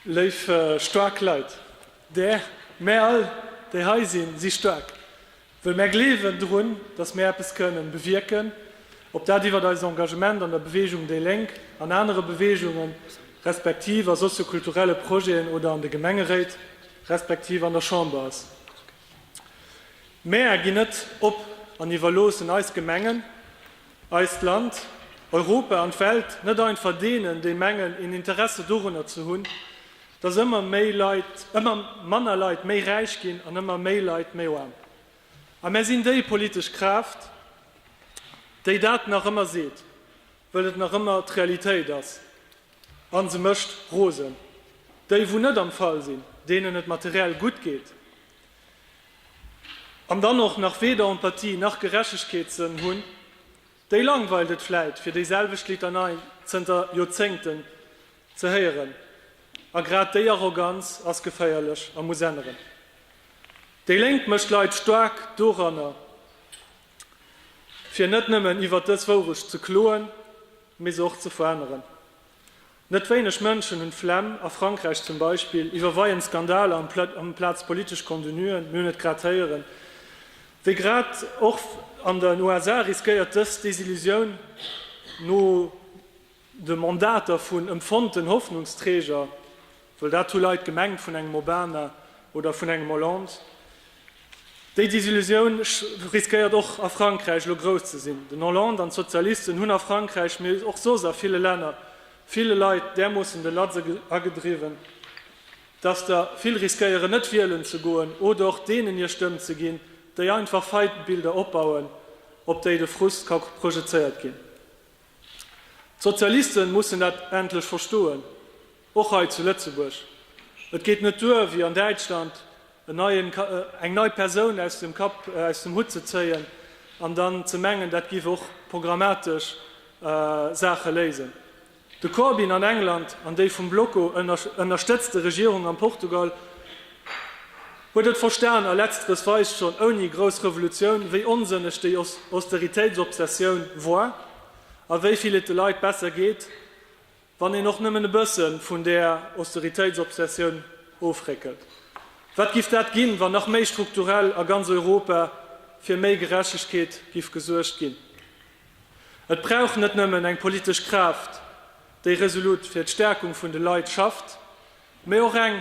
Léif staark Leit, där mär all, déi hei sinn, si staark, wëll mär gleewen drun, datt mär eppes kënnen bewierken, ob dat iwwert eist Engagement an der Beweegung déi Lénk, an anere Beweegungen, respektiv a soziokulturelle Projeten oder an de Gemengeréit, respektiv an der Chamber ass. Mär ginn net op an iwwerloossen eis Gemengen, eist Land, Europa an d'Welt net einfach deenen, déi mengen een Interesse dorunner ze hunn, datt ëmmer méi Leit, ëmmer manner Leit méi räich ginn an ëmmer méi Leit méi aarm. A mär sinn déi politesch Kraaft, déi dat nach ëmmer seet, wëll et nach ëmmer d'Realitéit ass a se mécht rosen. Déi wou net am Fall sinn, deenen et materiell gutt geet, An dann och nach weder Empathie nach Gerechtegkeetssënn hunn, déi langweilt et vläit, fir déiselwecht Litanei zënter Joerzéngten ze héieren. A grad déi Arroganz ass geféierlech a muss änneren. Déi Lénk mécht d'Leit staark doranner, fir net nëmmen iwwer dës Wourecht ze kloen, mee se och ze veränneren. Net wéineg Mënschen hunn d'Flemm, a Frankräich zum Beispill, iwwer Weien, Skandaler amplaz politesch Contenuen. Mir hunn et grad héieren, wéi grad och an den USA riskéiert dës Desillusioun no de Mandater vun ëmfonnten Hoffnungsträger, Well dat hu Leit gemengt vun engem Obama oder vun engem Hollande. Déi Desillusioun riskéiert och a Frankräich elo grouss ze sinn. Den Hollande an d'Sozialisten hunn a Frankräich, mee och soss a ville Länner, ville Leit därmoossen de Latz agedriwwen, datt der vill riskéieren net wielen ze goen oder och deenen hir Stëmm ze ginn, déi einfach Feindbilder opbauen, op déi de Frust ka projezéiert ginn. D'Sozialiste mussen dat endlech verstoen. Och hei zu Lëtzebuerg. Et geet net duer, wéi an Däitschland, en neien, eng nei Persoun aus dem Kapp, aus dem Hutt ze zéien an dann ze mengen, dat giff och programmatesch Saache léisen. De Corbyn an England an déi vum Bloco ënnerstëtzte Regierung an Portugal huet et verstan a letzteres weist schonn ouni grouss Revolutioun, wéi onsënneg déi Austeritéitsobsessioun war a wéi vill et de Leit besser geet. Wann een och nëmmen e bësse vun där Austeritéitsobsessioun ofréckelt, wat giff dat ginn, wann nach méi strukturell a ganz Europa fir méi Gerechtegkeet giff gesuergt ginn? Et brauch net nëmmen eng politesch Kraaft, déi resolut fir d'Stärkung vun de Leit schafft, mee och eng,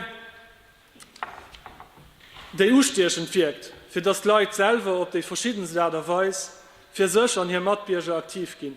déi ustiechend wierkt, fir datt d'Leit selwer op déi verschiddenst Aart a Weis fir sech an hir Matbierger aktiv ginn.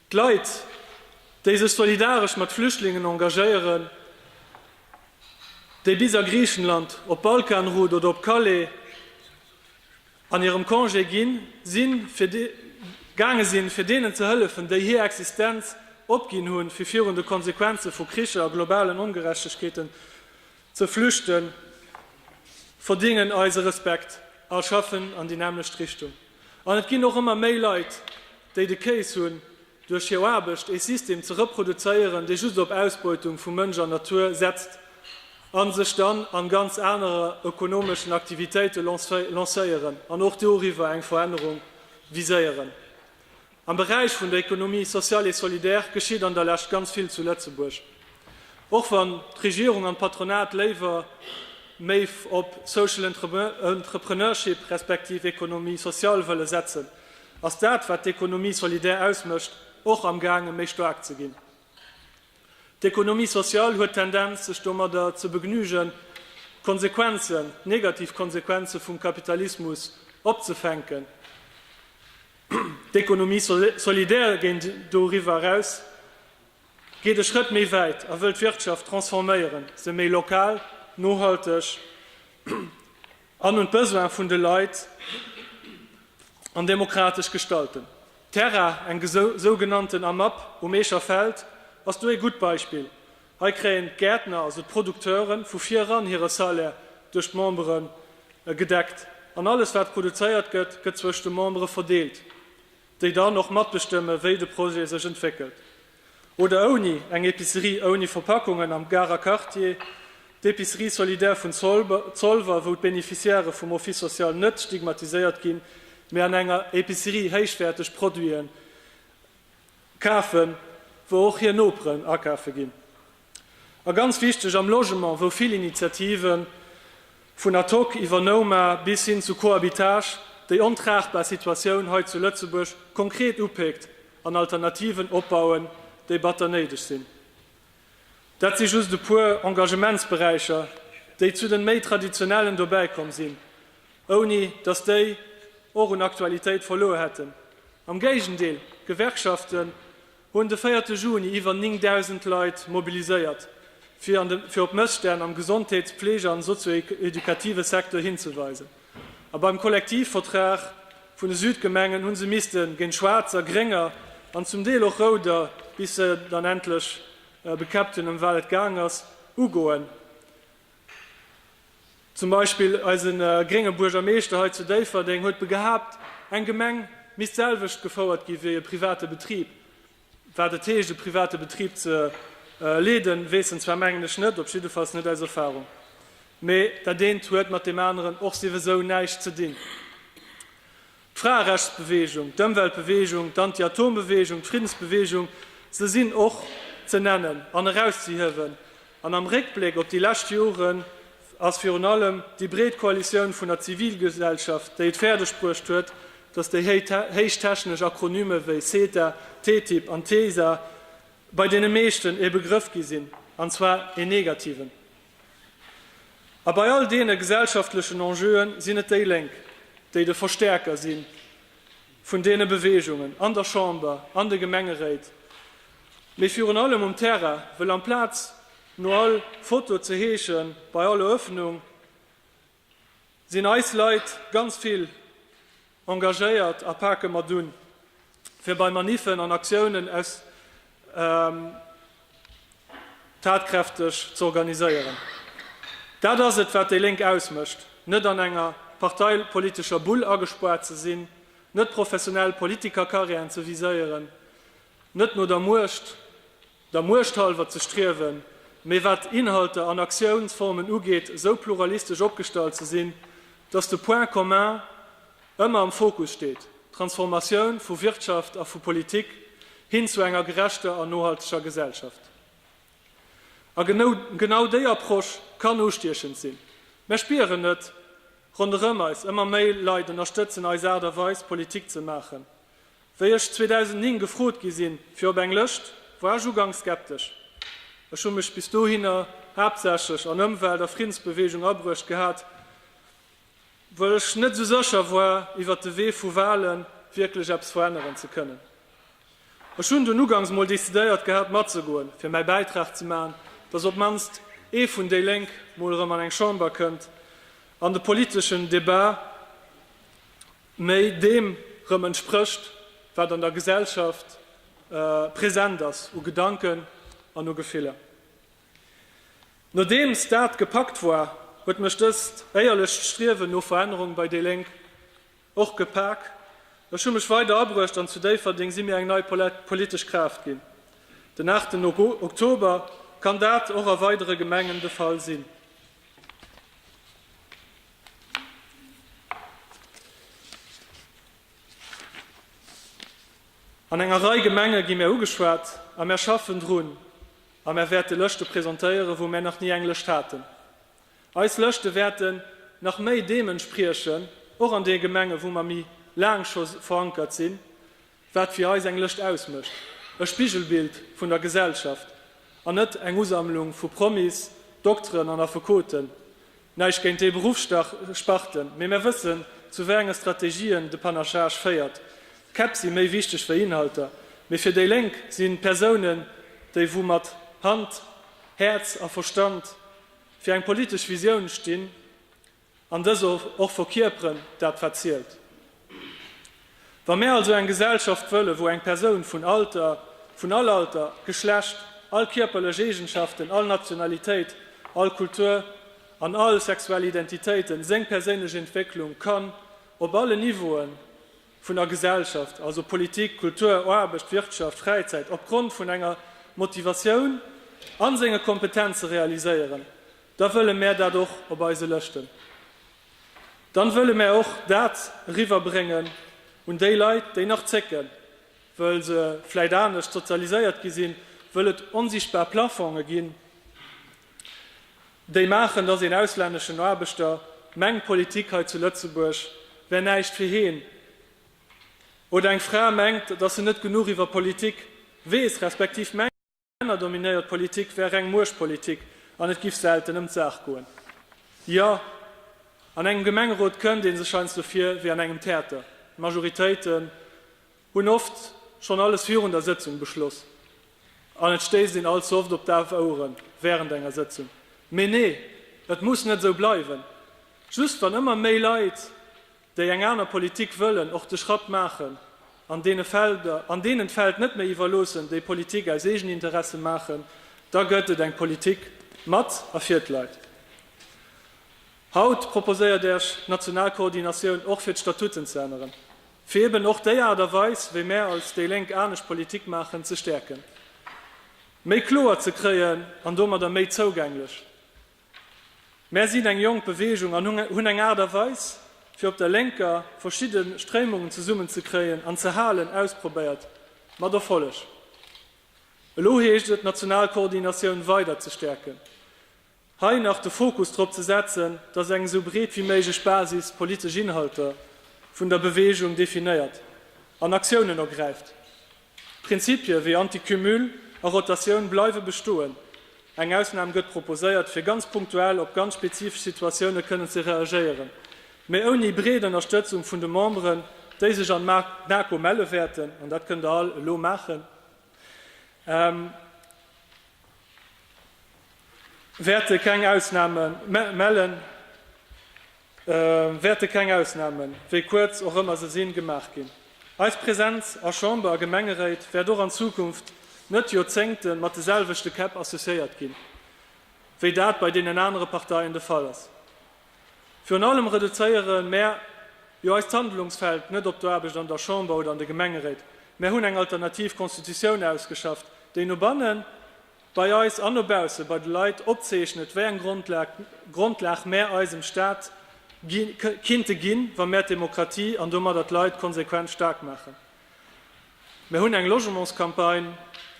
D'Leit, déi sech solidaresch mat Flüchtlingen engagéieren, déi bis a Griichenland, op d'Balkanroute oder op Calais an hirem Congé ginn sinn, fir gaange sinn, fir deenen ze hëllefen, déi hir Existenz opginn hunn, fir virun de Konsequenze vu Kricher a globalen Ongerechtegkeeten Ze flüchten, verdingen eise Respekt a schaffen an déi nämmlecht Richtung. An et ginn och ëmmer méi Leit, déi de Case hunn, duerch hir Aarbecht ee System ze reproduzéieren, dee just op Ausbeutung vu Mënsch an Natur setzt a sech dann an ganz anere ökonomeschen Aktivitéite lancéieren an och doriwwer eng Verännerung viséieren. Am Beräich vun der Économie sociale et solidaire geschitt an der Lescht ganz vill zu Lëtzebuerg, och wann d'Regierung an d'Patronat léiwer méi op social entrepreneurship respektiv économie sociale wëlle setzen, ass dat, wat d'Économie solidaire ausmécht, och am gaange méi staark ze ginn. D'Économie sociale huet d'Tendenz, sech domadder ze begnügen, d'Konsequenzen, d'negativ Konsequenze vum Kapitalismus opzefänken. D'Économie solidaire géint doriwwer eraus, geet e Schrëtt méi wäit a wëll d'Wirtschaft transforméieren, se méi lokal, nohalteg an un d'Besoine vun de Leit an demokratesch gestalten. D'Terra, eng sougenannten AMAP um Eecher Feld, ass do ee gutt Beispill, Hei kréien d'Gäertner, also d'Producteuren, vu vir eran hire Salaire duerch d'Membere gedeckt an alles wat produzéiert gëtt, gëtt zwëscht de Membere verdeelt, déi dann och matbestëmme wéi de Projet sech entwéckelt. Oder ouni, eng Epicerie ouni Verpackungen am Garer Quartier, d'Epicerie solidaire vun Zolwer, wou d'Beneficiairë vum Office social net stigmatiséiert ginn, mee an enger Epicerie héichwäerteg Produiten Kafen, wou och hir Noperen akafe ginn. A ganz wichteg am Logement, wou vill Initiativen, vun Atoc iwwer Nouma bis hin zu Cohabitage, déi ontragbar Situatioun hei zu Lëtzebuerg konkret upéckt an Alternativen opbauen, déi batter néideg sinn. Dat si just e puer Engagementsberäicher, déi zu den méi traditionellen dobäi komm sinn, ouni datt déi och un Aktualitéit verluer hätten. Am Géigendeel, d'Gewerkschaften hunn de véierte Juni iwwer 9.000 Leit mobiliséiert, fir op Mësstänn am Gesondheets-, Pflege an sozio-edukative Secteur hinzeweisen. A beim Kollektivvertrag vun de Südgemengen hu se misste géint schwaarzer, grénger an zum Deel och rouder, bis se dann endlech bekäppt hunn, ëm wat et gaang ass, ugoen. Zum Beispill eise grénge Buergermeeschter hei zu Déifferdeng huet begehaapt, eng Gemeng misst d'selwecht gefouert gi wéi e private Betrib. Wat et heescht, e private Betrib ze leeden, weess en zwar, mengen ech, net, op jiddefalls net aus Erfarung. Mee dat eent huet mat deem aneren och siwesou näischt ze dinn. d'Fraerechtsbeweegung, d'Ëmweltbeweegung, d'Anti-Atom-Beweegung, d'Friddensbeweegung, se sinn och ze nennen an erauszehiewen. An am Réckbléck op déi lescht Joren ass virun allem déi breet Koalitioun vun der Zivilgesellschaft, déi et fäerdegbruecht huet, datt déi héichtechnesch Akronyme wéi CETA, TTIP an TISA bei deene meeschten ee Begrëff gi sinn, an zwar een negativen. A bei all deene gesellschaftlechen Enjeuen sinn et déi Lénk, déi de Verstäerker si vun deene Beweegungen, an der Chamber, an de Gemengeréit, mee virun allem um Terrain, wëll amplaz no all Foto ze heesche bei all Erëffnung, sinn eis Leit ganz vill engagéiert a pake mat un, fir bei Maniffen an Aktiounen aus tatkräfteg z'organiséieren. Dat ass et, wat déi Lénk ausmécht, net an enger parteipolitescher Bull agespaart ze sinn, net professionell Politikercarrièren ze viséieren, net no der Muecht der Muecht hallwer ze striewen, mee wat Inhalter an Aktiounsformen ugeet, esou pluralistesch opgestallt ze sinn, datt de Point commun ëmmer am Fokus steet, d'Transformatioun vu Wirtschaft a vu Politik hin zu enger gerechter an nohalteger Gesellschaft. A genau déi Approche kann ustiechend sinn. Mär spieren et ronderëm eis, ëmmer méi Leit ënnerstëtzen eis Aart a Weis, Politik ze maachen, Wéi ech 2009 gefrot gi sinn fir op eng Lëscht, war ech uganks skeptesch. Ech hu mech bis dohinner haaptsächlech an Ëmwelt a Friddensbeweegung abruecht gehat, wëll ech net sou sécher war iwwert de Wee vu Wale wierklech eppes veränneren ze kënnen. Ech hunn dunn uganks mol decidéiert gehat matzegoen, fir mäi Bäitrag ze maachen, dass op mannst ee vun déi Lénk mol erëm an eng Chamber kënnt an de politeschen Debat méi deem erëm entsprécht, wat an der Gesellschaft present ass u Gedanken an u Gefiller. Nodeems dat gepackt war, huet mech dëst éierlecht Striewen no Verännerung bei déi Lénk och gepak. Ech hu mech weider abruecht an zu Déifferdeng si mir eng nei politesch Kraaft ginn. Den aachten Oktober kann dat och a weidere Gemengen de Fall sinn. An enger Rei Gemenge gi mär ugeschwat a mär schaffen drun a mär wäerte Lëschte presentéieren, wou mär nach ni eng Lëscht haten. Eis Lëschte wäerten nach méi deem entspriechen, och an deene Gemengen, wou mer méi laang scho verankert sinn. Wat fir eis eng Lëscht ausmécht, e Spigelbild vun der Gesellschaft an net eng Usammlung vu Promis, Dokteren an Affekoten. Näischt géint déi Beruffssparten, mee mär wëssen zu wéi enge Strategien de Panachage féiert. Käpp si méi wichteg wéi Inhalter, mee fir déi Lénk si Persounen déi wou mat Hand, Häerz a Verstand fir eng politesch Visioun stinn, An dës och verkierperen dat wat zielt. Wa mär also eng Gesellschaft wëllen, wou eng Persoun vun Alter, vun all Alter, Geschlecht, all kierperlech Eegenschaften, all Nationalitéit, all Kultur an all sexuell Identitéiten, seng perséinlech Entwécklung kann op allen Niveauen vun der Gesellschaft, also Politik, Kultur, Aarbecht, Wirtschaft, Fräizäit, opgrond vun enger Motivatioun an senge Kompetenze realiséieren, da wëlle mär dat och op eise Lëschten, dann wëlle mär och dat eriwwer bréngen un déi Leit, déi nach zécken, wëll se vläit anescht sozialiséiert gi sinn, wëll et onsichtbar Plafonge ginn, déi maachen, dass een auslänneschen Aarbechter mengt, Politik hei zu Lëtzebuerg wär näischt fir heen, oder eng Fra mengt, dass se net genuch iwwer Politik weess, respektiv mengt, Männerdominéiert Politik wär reng Muechtpolitik an et giff selten ëm d'Saach goen. Jo, an engem Gemengerot kënnt ee sech heiansdo vir wéi an engem Theater. D'Majoritéiten hunn oft schonn alles virun der Sëtzung beschloss an et stéisst een allze oft op daf Oueren wärend enger Sëtzung. Mee nee, et muss net esou bleiwen. Just wann ëmmer méi Leit déi eng aner Politik wëllen, och de Schratt maachen an deene Felder, an deenen d'Feld net méi iwwerloossen, déi Politik aus Eegeninteresse maachen, da gëtt et eng Politik mat a fir d'Leit. Haut proposéiert Äech d'national Koordinatioun och fir d'Statuten ze änneren, fir eben och déi Aart a Weis, wéi mär als déi Lénk anescht Politik maachen, ze stäerken, méi kloer ze kréien an domadder méi zougänglech Mär sinn eng jonk Beweegung an hunn eng Aart a Weis fir op der Lénker verschidde Stréimungen zesummen ze kréien an ze halen ausprobéiert, mat Erfolleg. Elo heescht et d'national Koordinatioun weider ze stäerken, hei nach de Fokus drop ze setzen, datt eng esou breet wéi méiglech Basis politesch Inhalter vun der Beweegung definéiert an Aktiounen ergräift. Prinzipie wéi Anticumul a Rotatioun bleiwe bestoen. Eng Ausnam gëtt proposéiert, fir ganz punktuell op ganz spezifesch Situatioune kënnen ze reagéieren, mee ouni breet Ënnerstëtzung vun de Memberen, déi sech an d'NaKo melle wäerten. An dat kënnt Der all elo maachen. Wäerte keng Ausname mellen. wäerte keng Ausnamen, wéi kuerz och ëmmer se sinn, gemaach ginn. Eis Präsenz a Chamber a Gemengeréit wäert och an Zukunft net Joerzéngte mat de selwechte Käpp associéiert ginn, wéi dat bei deenen anere Parteien de Fall ass. Virun allem reduzéiere mär jo eist Handlungsfeld net op d'Aarbecht an der Chamber oder an de Gemengeréit. Mär hunn eng alternativ Constitutioun ausgeschafft, déi no bannen bei eis an no bausse bei de Leit opzeechnet, wéi eng Grondlag mär eisem Staat kinnte ginn, wa mär d'Demokratie an domadder d'Leit konsequent staark maachen. Mär hunn eng Logementscampagne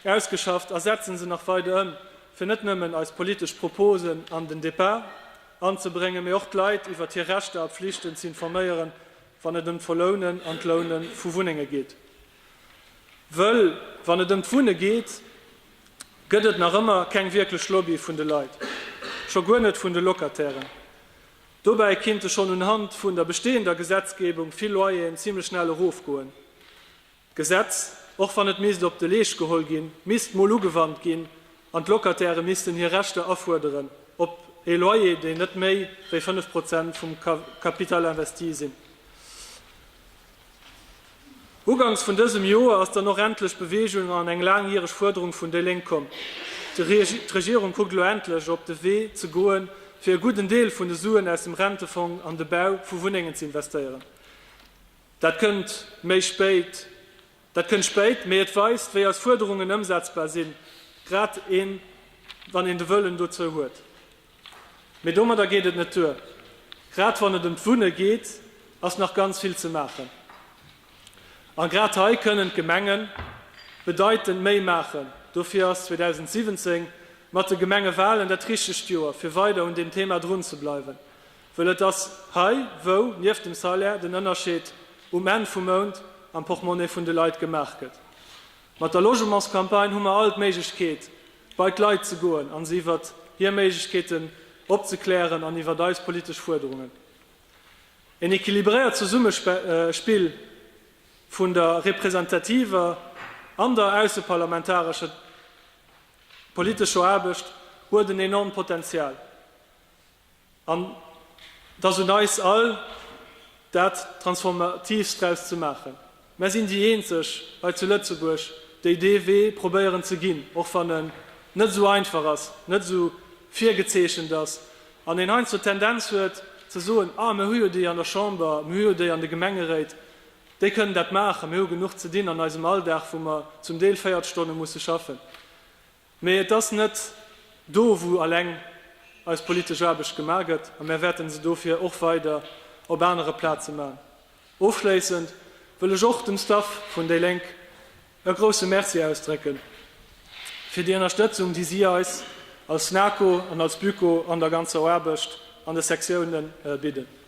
ausgeschafft a setzen se nach weider ëm, fir net nëmmen eis politesch Proposen an den Debat anzebréngen, mee och d'Leit iwwert hir Rechter a Pflichten z'informéieren, wann et ëm d'Verlounen an d'Loune vu Wunnenge geet. Wëll wann et ëm d'Wunne geet, gëtt et nach ëmmer keng wierklech Lobby vun de Leit, scho guer net vun de Locatairen. Dobäi kinnte schonn unhand vun der bestehender Gesetzgebung vill Loyeren zimlech schnell erofgoen. D'Gesetz, och wann et misst op de Leescht geholl ginn, misst mol ugewannt ginn an d'Locataire missten hir Rechter afuerderen op ee Loyer, deen net méi wéi 5 Prozent vum Capital investi sinn. Uganks vun dësem Joer ass dann och endlech Beweegung an eng laangjäreg Fuerderung vun déi Lénk komm. D'Regierung kuckt elo endlech op de Wee ze goen, fir e gudden Deel vun de Suen aus dem Rentefong an de Bau vu Wunnengen ze investéieren. Dat kënnt méi spéit, dat kënnt spéit, mee et weist, wéi eis Fuerderungen ëmsetzbar sinn, grad een, wann een de Wëllen dozou huet. Mee domadder geet et net duer. Grad wann et ëm d'Wunne geet, ass nach ganz vill ze maachen. A grad hei kënnen d'Gemenge bedeitend méi maachen. Dofir ass 2017 mat de Gemengewalen dat richtegt Joer, fir weider un deem Thema drun ze bleiwen. Wëll et ass hei, wou nieft dem Salaire den Ënnerscheed um Enn vum Mount am Portemonnaie vun de Leit gemaach gëtt. Mat der Logementscampagne hu mer all d'Méiglechkeet, bei d'Leit ze goen a se iwwer hir Méiglechkeeten opzeklären an iwwer eis politesch Fuerderungen. En equilibréiert Zesummespill vun der representativer an der ausseparlamentarescher politescher Aarbecht huet en enormt Potenzial. An et ass un eis all, dat Transformatiivst draus ze maachen. Mär sinn déi Eenzeg hei zu Lëtzebuerg, déi dee Wee probéieren ze ginn, och wann en net esou einfach ass, net esou virgezeechent ass an een heiansdo d'Tendenz huet ze soen, Ah, mir hu jo déi an der Chamber, mir hu jo déi an de Gemengeréit, déi kënnen dat maachen. Mir hu genuch ze dinn an eisem Alldag, wou mer zum Deel 40 Stonne musse schaffen. Mee et ass net do, wou alleng eis politesch Aarbecht gemaach gëtt, a mär wäerten se dofir och weider op anere Plaze maachen. Ofschléissend wëll ech och dem Staff vun déi Lénk e grousse Merci ausdrécke fir déi Ënnerstëtzung, déi si eis als NAKO an als BüCo an der ganzer Aarbecht an de Sektiounen bidden.